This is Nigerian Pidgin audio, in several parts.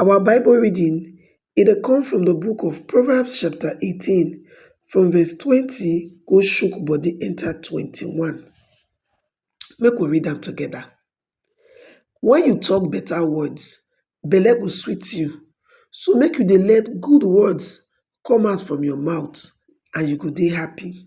Our Bible reading e dey come from the book of Proverbs chapter eighteen from verse twenty go shook body enter twenty-one. Make we read am together. When you talk better words, belle go sweet you, so make you dey let good words come out from your mouth and you go dey happy.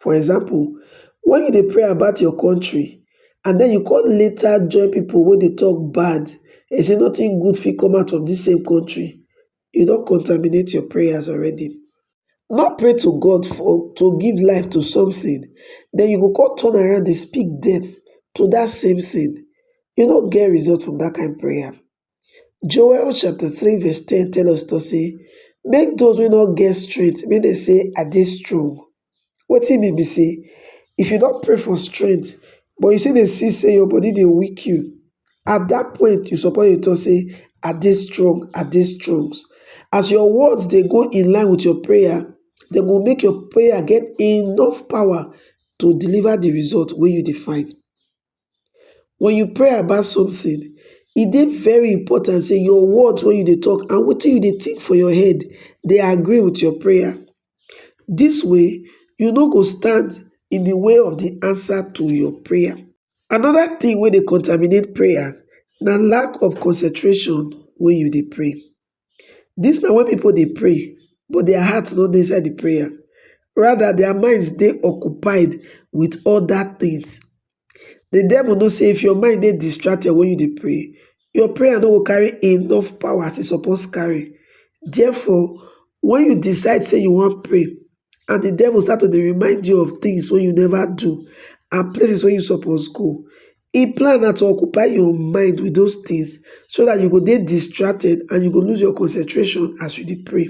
For example, when you dey pray about your country and then you come later join people wey dey talk bad and say nothing good fit come out of this same country, you don contaminate your prayers already. No pray to God for to give life to something, then you go come turn around dey speak death to that same thing. You no get result from that kind prayer. Joel chapter 3 verse 10 tell us to say, make those wey no get strength make dem say I dey strong. Wetin mean be say if you don pray for strength but you still dey see say your body dey weak you, at that point you suppose dey talk say I dey strong, I dey strong. As your words dey go in line with your prayer, dem go make your prayer get enough power to deliver the result wey you dey find. Wen you pray about something, e dey very important sey your words wey you dey talk and wetin you dey think for your head dey agree with your prayer. Dis way, you no go stand in the way of the answer to your prayer. Another thing wey dey contaminate prayer na lack of concentration wen you dey pray. Dis na wen pipo dey pray but dia heart no dey inside di prayer, rather dia minds dey occupied wit oda tins. Di devil know sey if your mind dey distracted wen you dey pray, your prayer no go carry enough power as e suppose carry. Therefore, wen you decide sey you wan pray and di devil start to dey remind you of tins wey you neva do and places wey you suppose go, Im plan na to occupy your mind with those things so that you go dey distracted and you go lose your concentration as you dey pray.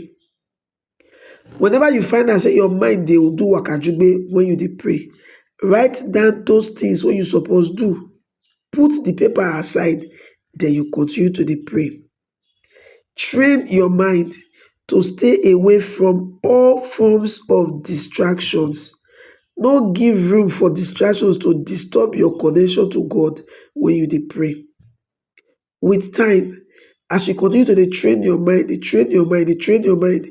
Whenever you find out say your mind dey do wakajugbe when you dey pray, write down those things wey you suppose do, put the paper aside, then you continue to dey pray. Train your mind to stay away from all forms of distractions. No give room for distractions to disturb your connection to God when you dey pray. With time, as you continue to dey train your mind, dey train your mind, dey train your mind,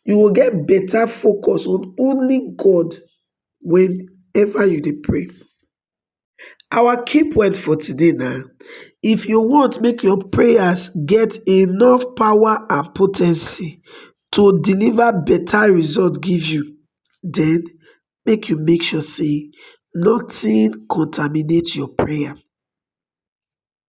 you will get better focus on only God whenever you dey pray. Our key point for today na if you want make your prayers get enough power and potency to deliver better result give you, then make you make sure say nothing contaminate your prayer.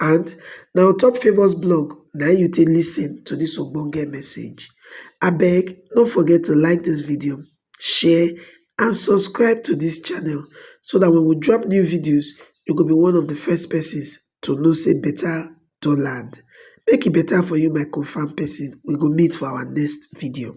and na on top favours blog na im you take lis ten to this ogbonge message abeg no forget to like this video share and subscribe to this channel so that when we drop new videos you go be one of the first persons to know say better don land make e better for you my confam person we go meet for our next video